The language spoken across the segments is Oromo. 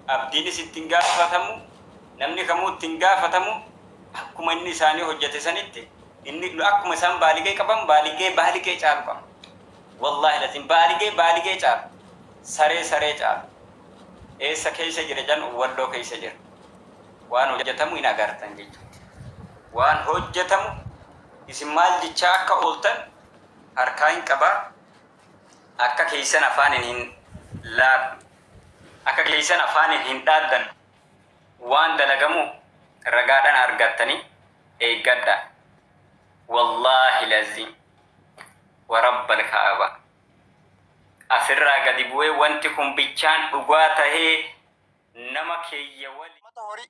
Abdiinis itti hin gaafatamu, namni kamuu itti hin gaafatamu, akkuma inni isaanii hojjate sanitti inni akkuma isaan baaligee qaban baaligee baaligee caalu qaba. Wallaahi laziim baaligee baaligee caalu, saree saree caalu. Eessa keessa jira jedhan Walloo keessa jira. Waan hojjatamu hin agartan jechuuti. Waan hojjatamu isin maal jechaa akka ooltan harkaa hin qaba, akka keessan afaaniin hin laaqu. Akka keessan afaaniin hin dhaaddan waan dalagamu ragaadhan argattani eeggadha wallaahi laziim wa rabbal ka'aba asirraa gadi bu'ee wanti kun bichaan dhugaa tahee nama keeyyawali. Ummata horii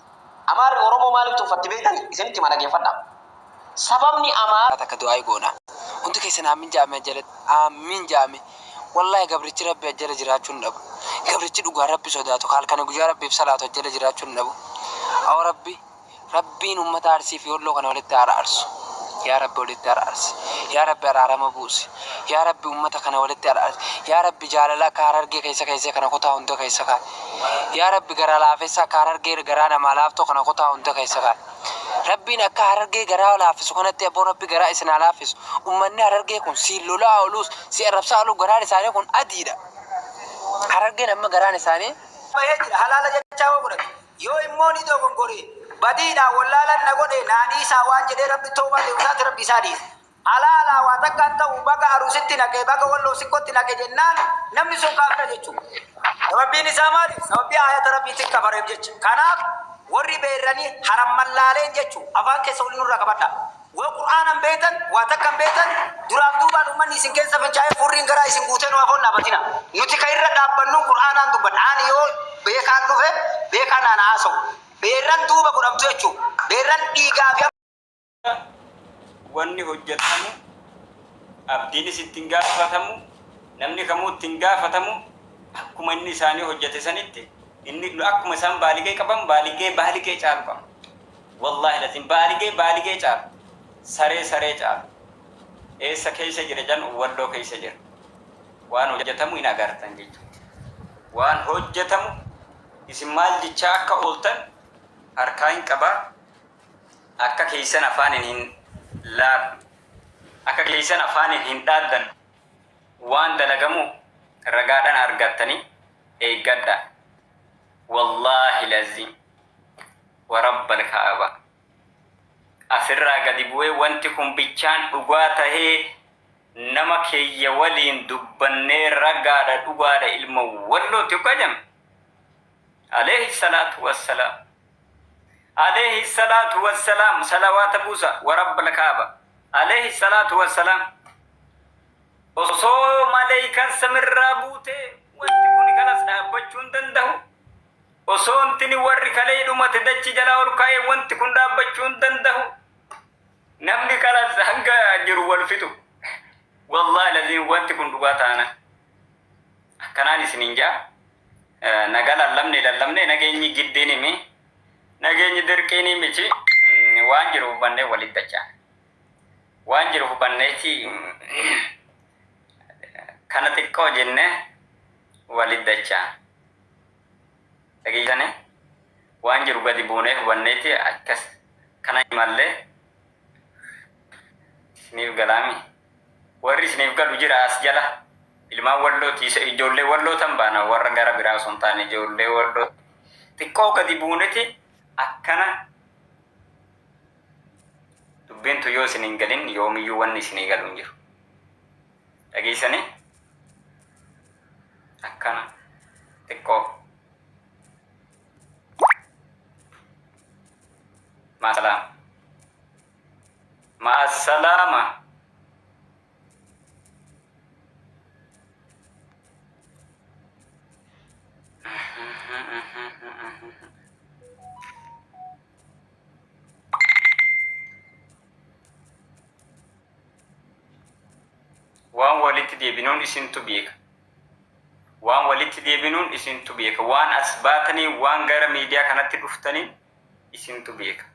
Amaarri Oromoo maaliif tuffatti beektani? Isinitti hima dhageeffadhaa. Sababni Amaarri. takka du'aayi goona. Hundi keessan aammiin ja'aame ajjalatti. Aammiin ja'aame. Wallahi gabrichi Rabbi ajjala jiraachuu hin dhabu. Gabrichi dhugaan Rabbi sodaatu ka halkani guyyaa Rabbiif salaatu ajjala jiraachuu hin dhabu. Awoo Rabbi Rabbiin ummata Arsii fi Wolloo kana walitti haa araarsu. Yaa Rabbi walitti araarsi. Yaa Rabbi araarama buusi. Yaa Rabbi ummata kana walitti araarsi. Yaa Rabbi jaalala akka Harargee keessa keessee kana kutaa hunda keessa kaa'i. Yaa rabbi garaa laafessa akka harargee garaa namaa laaftu kana kutaa hunda keessa kaay. Rabbiin akka harargee garaa laaffisu kanatti abboo rabbi garaa isin haa laaffisu. Ummanni harargee kun siin lola'aa oluus si arrabsaa oluu garaan isaanii kun adiidha. Harargeen amma garaan isaanii. bahee jira halaala jechaa yoo godhate yoo immoo ni dogongoree badiidhaan wallaalan na godhee naa dhiisaa waan jedhee rabbi towbaa deebisaati rabbi isaa dhiise. Alaa alaa waa takka hin ta'u baga arusitti naqe baga walloo sikkotti naqe jennaan namni sun kaafira jechuudha. Sababbiin isaa maali? Sababbii aayata Rabbiitin kafareef jecha. Kanaaf warri beeyrani haramman laaleen jechu afaan keessa wali nurraa qabadha. Waa qur'aana hin beeytan waa takka hin beeytan duraaf duubaan ummanni isin keessa fincaa'ee furriin garaa isin guutee nu afoon dhaabatina. Nuti ka irra dhaabbannun qur'aanaan dubbanna. Ani yoo beekaan dhufe beekaan naan haasawu. Beeyrran duuba godhamtu jechu. Beeyrran dhiigaa fi. wanni hojjatamu abdiinis itti hin gaafatamu namni kamuu itti hin gaafatamu akkuma inni isaanii hojjate sanitti inni akkuma isaan baaligee qaban baaligee baaligee caalu qaban wallaahi laziin baaligee baaligee caalu saree saree caalu eessa keessa jira jan walloo keessa jira waan hojjatamu hin agartan jechuudha waan hojjatamu isin maal jechaa akka ooltan harkaa hin qabaa Akka keessan afaaniin hin laaqnu. Akka keessan afaaniin hin dhaaddannu. Waan dalagamu ragaadhaan argattanii eeggadhaa. Wallaahil Aziim. Wa Rabbal Ka'abaa. Asirraa gadi bu'ee wanti kun bichaan dhugaa tahee nama keeyya waliin dubbannee ragaadha dhugaadha ilma Wallooti hoggaa jedhame. Aleeyhi Salaatu Wassalaam. Aleeyhi salaatu wassalaam salawaata buusa wa rabbal kaaba Aleeyhi salaatu wassalaam Osoo maleeykan samirraa buute wanti kuni kalas dhaabbachuu hin dandahu Osoo ntini warri kaleey dhumate dachi jalaa ol kaa'ee wanti kun dhaabbachuu hin dandahu Namni kalas hanga jiru wal fixu Wallahi laziim wanti kun dhugaa taana. Akkanaan isiniin ja'a, Nagaa lallabne lallabnee nageenyi giddiini mi, nageenyi dirqiini miti, waan jiru hubannee waliin dachaane. Waan jiru hubanneeti kana xiqqoo jennee waliin dachaane. Dhageessanii? Waan jiru gadi buunee hubanneeti akkas kana imallee isiniif galaami. Warri isiniif galu jira as jala. Ilmaan walloo ti ijoollee walloo tan baana warra gara biraa osoo hin taane ijoollee walloo ti. Xiqqoo gadi buuneti akkana dubbiin tun yoo isin hin galin yoomiyyuu wanni isinii galu hin jiru. Dhageessanii? Akkana xiqqoo. Maasalaam. Ma'assalaama. Waan walitti deebinuun isintu beeka. Waan walitti deebinuun isintu beeka. Waan as baatanii waan gara miidiyaa kanatti dhuftaniin isintu beeka.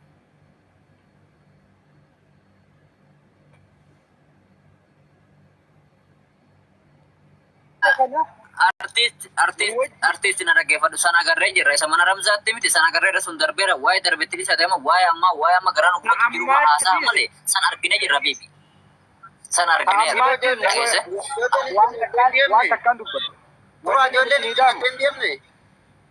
Artiist artiist artiist na dhaggeeffadhu sana agarree jirra isa mana ramzaatti miti sana agarree irra sun darbeera waa'ee darbetti isa ta'e waa'ee ammaa waa'ee amma garaa nu gubatu jiru Ammaa haasaa itti malee sana argine jirra biibi sana argine Ammaa irra jenna. keessa Waan takkaan- waan takkaan dubbadhu. Turaa ijoolleen hin deemne.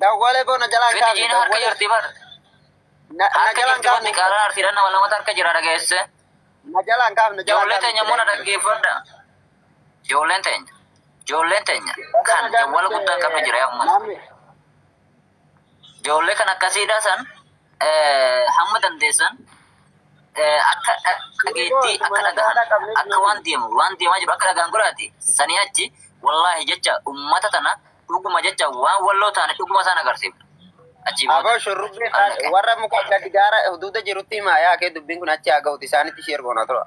Dawwalee koo na jalaan Fedhi kaafne jiina harka dawwalee. jirti bar. Na na Harka jalaan jirti bar kaafne. diqaalaan arsiidhaan nama lamata harka jira dhageesse. Na jalaan kaafne na jalaan Ijoollee kaafne. teenya immoo na dhaggeeffadha. Ijoolleen teenya. Ijoolleen teenya kan jawwala guddaa hin qabne jira yaa uummata. Namni Ijoollee kan akkasiidha san hamma dandeessan akka dhageettii akka dhagahan akka waan deemu waan deemaa jiru akka dhagaan godhaati sanii achi wallaahi jecha ummata tana dhuguma jecha waan walloo taane dhuguma isaan agarsiifna achii booda Aboo shurrubbee Allaqe. warra muka gadi gaara huduuda jirutti himaa yaa kee dubbiin kun achi haa ga'uti isaanitti ishee ergoona tura.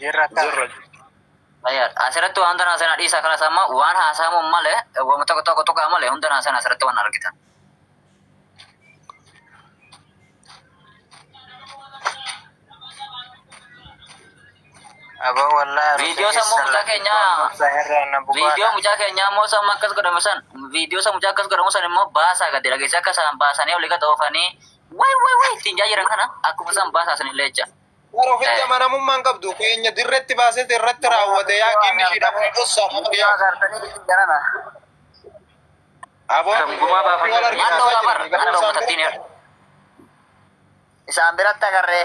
Jirra akka. Jirra. Ayyaar, asirratti waan tanaa sana dhiisa kanas amma waan haasa'amu malee waan tokko tokko tuqaa malee hunda naa sana asirratti waan argitan. Aboo wallaahi. Viidiyoo sammuu mucaa keenyaa- Viidiyoo Viidiyoo mucaa keenyaa immoo samma akkas godhamu san viidiyoo san mucaa akkas godhamu san immoo baasaa gadi dhageessee akka isaan baasanii olii gad oofanii Way way way ittiin jaa jiran kana akkuma isaan baasaa san illee jecha. Bar ofitti amanamummaan qabdu keenya dirretti baasete irratti raawwate yaa ginni ishii dhabuu dhossaa Gumaa dhuftiyaa. gaartanii ittiin jarana. Aboo Kan gumaa wal baafatan. arginaasaa Maaloo bar jiranii garuu akka isaan uummatattiin bira. Isaan biratti agarree.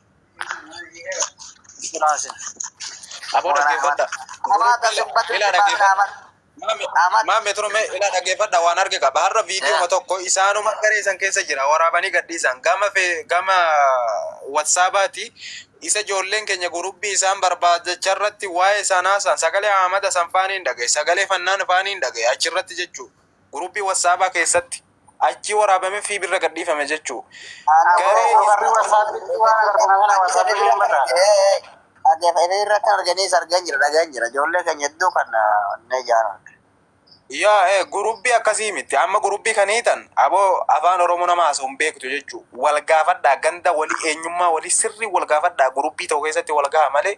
Siraasin. Aboo dhaggeeffadha. Kumaa tasubbatin Ilaa sibaa dhaggeeffadha. dhaaman. Ahmad. Maammee turme ilaa dhaggeeffadha waan arge qaba. Har'a viidiyooma tokko isaanuma garee san keessa jira waraabanii gadhiisan. Gama fee- gama watsaabaati isa ijoolleen keenya gurubbii isaan barbaadacha irratti waa'ee sanaa san sagalee Ahmada san faaniin dhagaye sagalee fannaan faaniin dhagaye achirratti jechuu Group WhatsApp keessatti. Achii waraabame fi birra gadhiifame jechuu. Garee Garuu warri WhatsApp itti waan agartan kana WhatsApp itti hin bataan. Akka fedhii irra akka arganiis argan jira dhagaan jira ijoollee keenya hedduu kan onnee jaaran. Yaa ee gurubbii akkasii miti amma gurubbii kan hiitan aboo afaan oromoo nama haasa'u hin beektu jechuu wal gaafadhaa ganda walii eenyummaa walii sirrii wal gaafadhaa gurubbii ta'u keessatti wal gaha malee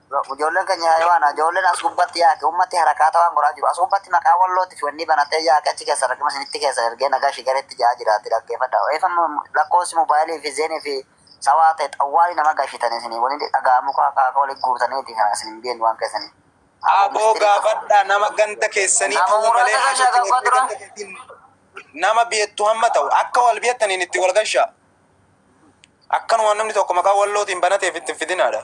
Ijoolleen keenya hayawaana. Ijoolleen as gubbatti yaaqe. Ummatti harakaata waan godhaa jiru. As gubbatti maqaa wallootti fiwannii banatee yaaqe achi keessa rakina sinitti keessa ergee nagashi garetti ja'aa jiraatti dhaggeefadha. Eefam lakkoofsi mobaayilii fi zeenii fi sawaa ta'e xawwaali nama gashitani isinii wani dhaga'amu kaa kaa wali guurtaniiti kana isin hin beeknu waan keessanii. Aboo gaafadhaa nama ganda keessanii ta'uu malee hajati warri ganda keetiin nama beektu hamma ta'u akka wal beektaniin itti wal gashaa. Akkanuma namni tokko maqaa wallootiin banateef itti fidinaadha.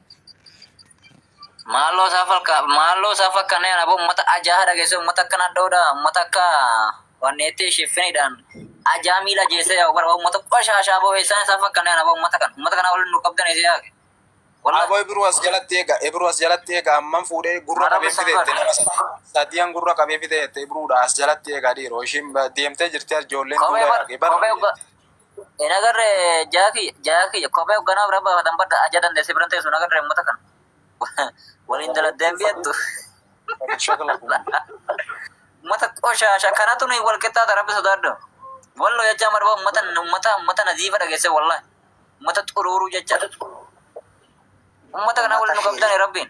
Maaloo isaa falka maaloo isaa fakkanee ana ummata ajaa dhageesse ummata akka nadhoodha ummata akka wanneetti shiffinidhaan ajaa miila jeessee yaa bara ummata qoshaashaa boo eessaan isaa fakkanee ana ummata kana ummata kana waliin nu qabdan eessi yaake. Aboo Ibiruu as jalatti eega Ibiruu as jalatti eega amman fuudhee gurra qabee fideette nama sadiyan gurra qabee fideette Ibiruudha as jalatti eega dhiiroo ishiin deemtee jirti ijoolleen duuba yaaqee bara. Hin agarre jaa kiyya jaa kiyya kophee hogganaaf irra baafatan badda aja dandeesse biran teessu hin agarre uummata kana. Waliin daladdeen biyattu. Uummata qoshaasha kanatu nuyi wal qixxaata rabbi sodaadhu. Wallo jechaa marba uummata uummata uummata naziifa dhageesse wallahi. Uummata xuruuruu jecha. Uummata kana waliin nu qabdani rabbiin.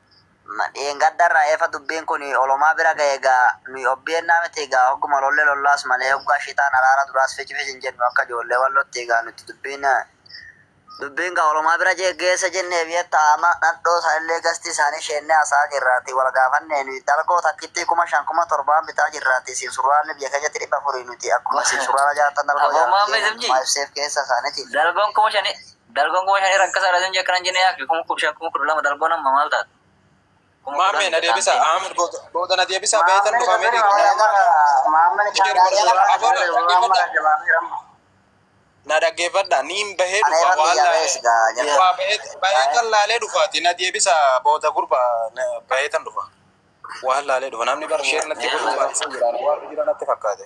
Ma dheengadda irraa eefa dubbiin kun olomaa bira gahe egaa nuyi obn miti egaa hogguma lolle lollaas malee hoggaa shitaan araara duraas fici fici hin jennu akka ijoollee wallotti egaa nuti dubbiin dubbiin gaa olomaa bira geessa jennee beektaa amma nadhoo sanillee gastii isaanii sheennee haasa'aa jirraati wal gaafannee nuyi dalgoo takkittii kuma shan kuma torbaan bitaa jirraati isin surraalli biyya keenyatti dhibba afurii nuti akkuma isin surraala jaartan dalgoo jaarra jedhee mootummaa ibseef keessa isaaniiti. Dalgoon kuma shanii. Dalgoon kuma shanii rakkasaadha sin jee kanan jene yaakki kuma kudha shan kuma kudha lama dalgoon amma maal taate? Kuma kudhan Maammee na itti deebisa. taante. Ahmed booda booda na deebisa. Beetan dhufaa mee na dhaggeeffadha. Niin bahee dhufa waan laalee. Waa baheetan laalee dhufaati na deebisa booda gurba baheetan dhufa. Waan laalee dhufa namni bara sheer natti godhu baay'isee jira waan jira natti fakkaate.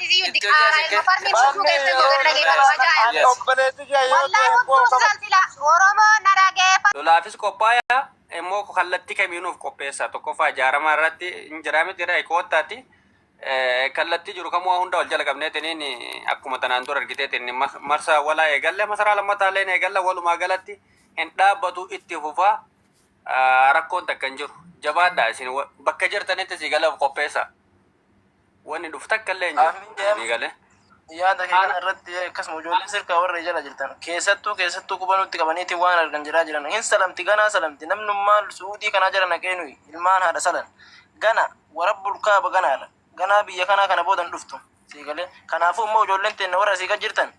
Iyyuu diqaaraa ilma farmii lubbuu keessan koo gadi dhageeffadhu ajaa'ib. Obboleessi kee yoo Wallahi ta'e immoo hunduu qaba. silsila Oromoo na dhageeffadhu. Lolaafis qophaayaa immoo kallattii kamiin of qopheessaa? Tokkoffaa ijaaramaa irratti hin jiraa miti irraa koottaati. Kallattii jiru kamuu hunda wal jala qabneetiniin akkuma tanaan dura argiteetiin marsaa walaa eegalle masaraa lammataa illee ni eegalla walumaa galatti hin dhaabbatu itti fufaa rakkoon takka hin jiru. Jabaadhaa isin bakka jirtanitti sii galaaf qopheessaa. Wanni dhufu takka illee hin Aafin jiru. Ni deem gale. yaada kee Ana kana irratti akkasuma ijoollee sirkaa warra jala jirtan keessattuu keessattuu quba nutti qabaniiti waan argan jedhaa jiran hin salamti ganaa salamti namnummaa su'uudii kanaa jala naqee nuyi ilmaan haadha salan gana warabbul kaaba ganaadha ganaa biyya kanaa kana booda hin dhuftu sii galee kanaafuu immoo ijoolleen teenna warra asii gad jirtan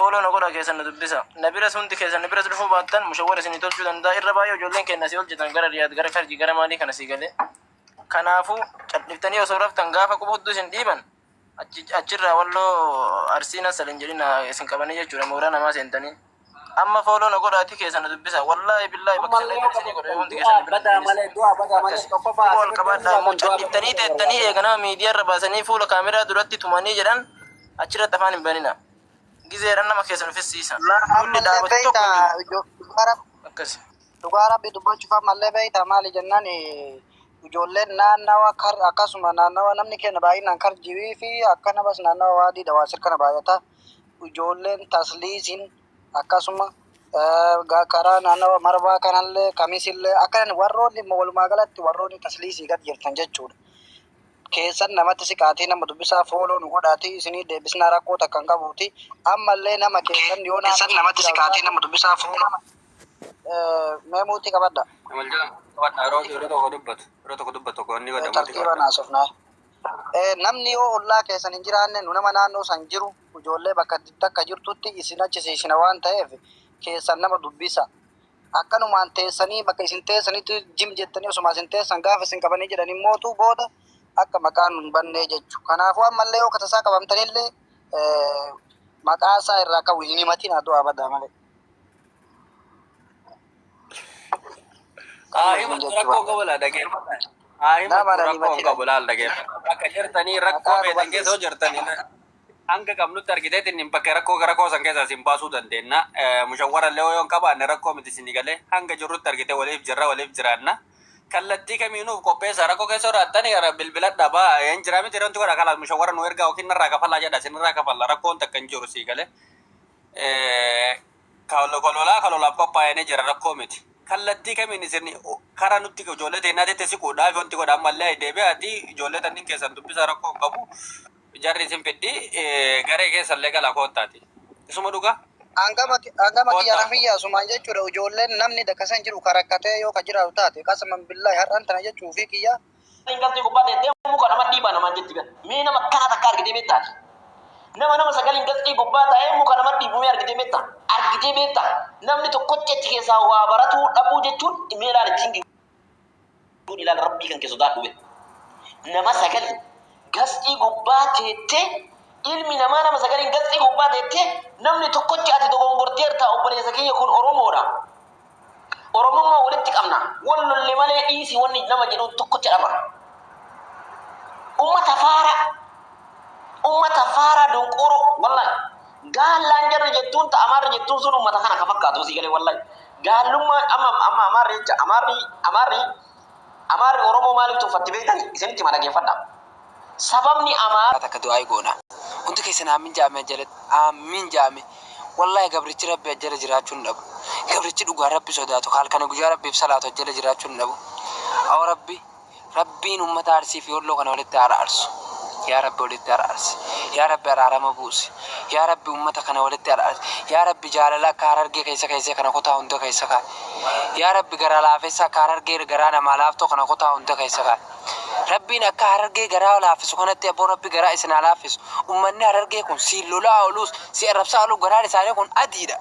fooloo na godha keessan na dubbisa na biras hundi keessan na biras dhufuu baattan mushawwara isinii tolchuu danda'a irra baay'ee ijoolleen keenya asii ol jirtan gara riyaad gara karjii gara maalii kana sii galee Kanaafuu, cadhiftanii osoo raftan gaafa qubuddu isin dhiiban achirraa walloo Arsii na sal hin jedhina isin qabanii jechuudha mooraa namaa seentanii. Amma fooloo na godhaatii keessa na dubbisa. Wallaahi billaahi bakka sana irratti isinii godha yoo hundi keessan na bira hin deebisne. Akkasi. Quba ol qabaadhaa immoo cadhiftanii teettanii eega nama miidiyaa irra baasanii fuula kaameraa duratti tumanii jedhan achirratti afaan hin banina. Gizeedhaan nama keessan fixsiisa. Namni dhaabatu tokko hin jiru. Akkasi. Dhugaa rabbi dubbachuuf ammallee beektaa maali jennaan ijoolleen naannawa kar akkasuma naannawa namni keenya baay'inaan kar jirii fi akka namas naannawa waadii dawaasir kana baay'ata ijoolleen tasliisiin akkasuma karaa naannawa marbaa kanallee kamisillee akkan warroonni walumaa galatti warroonni tasliisii gad jirtan jechuudha. Keessan namatti siqaatii nama dubbisaa fooloo nu godhaatii isinii deebisnaa rakkoo takkan qabuuti ammallee nama keessan yoo keessan namatti siqaatii nama dubbisaa fooloo Mee muuxii qabadha. Wal jala qabadha yeroo yeroo tokko dubbatu yeroo tokko dubbatu tokko inni godha muuxii qabadha. Tartiibaan haasofnaa. Namni yoo ollaa keessan hin jiraanne nu nama naannoo san jiru ijoollee bakka takka jirtutti isin achi siisina waan ta'eef keessan nama dubbisa. Akkanumaan teessanii bakka isin teessanitti jim jettanii osuma isin teessan gaafa isin qabanii jedhan immootu booda akka maqaan nu hin bannee jechu. Kanaafuu ammallee yoo katasaa qabamtanillee maqaa isaa irraa ka'u hin himatin haa du'aa badaa malee. Haa hima rakkoo qabu laa dhageeffadha. Haa hima rakkoo hin qabu laal dhageeffadha. Bakka jirtanii rakkoo beekan keessa yoo jirtanii hanga qabnutti argiteetti inni bakka rakkoo rakkoo san keessaa isin baasuu dandeenya. Mushawwara illee yoo hin qabaanne rakkoo miti isin galee hanga jirrutti argite waliif jirra waliif jiraanna. Kallattii kamiinuuf qopheessa rakkoo keessa jiraattanii gara bilbila dhabaa hin jiraa miti wanti godha kalaas mushawwara nu ergaa yookiin narraa kafalaa jedha isin irraa kafalla rakkoon takka hin jiru sii galee. Lolaa ka lolaaf qophaayanee jira rakkoo miti. Kallattii kamiin isin kara nutti ijoollee teennaatitti siquudhaaf wanti godha ammallee deebi'aati ijoollee tanniin keessan dubbisaa rakkoo hin qabu jarri isin fiddi garee keessallee gala koottaati. Isuma dhugaa? Angama kiyya na fiyya asumaan jechuudha ijoolleen namni dakasa hin jiru ka rakkatee yoo ka jiraatu taate qasman billahi har'an tana jechuufii kiyya. Intalti gubbaa teettee muka nama dhiibaa namaan jetti bar. Mee nama akkanaa takka argitee beektaa ati? Nama nama sagal intalti gubbaa taa'ee muka nama dhiibu mee argitee beektaa? Argitee beektaa? Namni tokkochi achi keessaa waa baratuu dhabuu jechuun mee ilaali think good ilaali rabbii kan kee sodaadhu bee. Nama sagal gasxii gubbaa teettee ilmi namaa nama sagalin gasxii gubbaa teettee namni tokkochi ati dogongorteertaa obboleessa kiyya kun Oromoodha. Oromummaa walitti qabna. Wal lolle malee dhiisi wanni nama jedhu tokkocha dhaba. Ummata faaraa. Ummata faaraa donqooroo. Wallahi. Gaallaan jarri jettuun ta Amaarri jettuun sun ummata kana ka fakkaatu sii galee wallahi. Gaallummaan amma amma Amaarri jecha Amaarri Amaarri Amaarri Oromoo maaliif tuffatti beektani? Isinitti hima dhageeffadhaa. Sababni Amaarri. takka du'aayi goona hundi keessan aammiin jaame ajjalatti aammiin jaame wallahi gabrichi rabbi ajjala jiraachuu hin dhabu gabrichi dhugaan rabbi sodaatu ka halkani guyyaa rabbiif salaatu ajjala jiraachuu hin dhabu awoo rabbi rabbiin ummata arsii fi wolloo kana walitti haa araarsu yaa rabbi walitti araarsi yaa rabbi araarama buusi yaa rabbi ummata kana walitti araarsi yaa rabbi jaalala akka harargee keessa keessee kana kutaa hunda keessa kaa Yaa rabbi garaa laafessa akka harargee garaa namaa laaftu kana kutaa hunda keessa kaay. Rabbiin akka harargee garaa laaffisu kanatti abboo rabbi garaa isin haa laaffisu. Ummanni harargee kun siin lola'aa oluus si arrabsaa oluu garaan isaanii kun adiidha.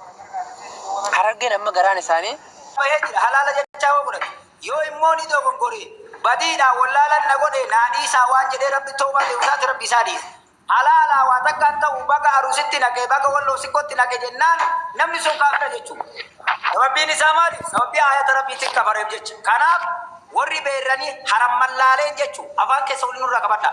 Harargeen amma garaan isaanii. bahee jira halaala jechaa hoo godhate yoo immoo ni dogongoree badiidhaan wollaalan na godhee naa dhiisaa waan jedhee rabbi towbaa deebisaati rabbi isaa dhiise. Halaalaa waa takkaan ta'u baga aruusitti naqe baga walloo sikkootti naqe jennaan namni sun kaafira jechuu. Sababbiin isaa maali? Sababbii aayata Rabbiitin kafareef jecha. Kanaaf warri beeyrani haramman laaleen jechu. Afaan keessa wali nurraa qabadha.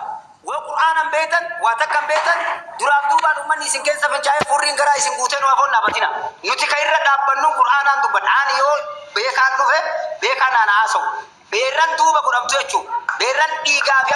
Waa qur'aana hin beeytan, waa takka hin beeytan, duraaf duubaan ummanni isin keessa fincaa'ee furriin garaa isin guutee nu afoon dhaabatina. Nuti ka irra dhaabbannun qur'aanaan dubbanna. Ani yoo beekaan dhufe beekaan naan haasawu. Beeyrran duuba godhamtu jechu. Beeyrran dhiigaa fi.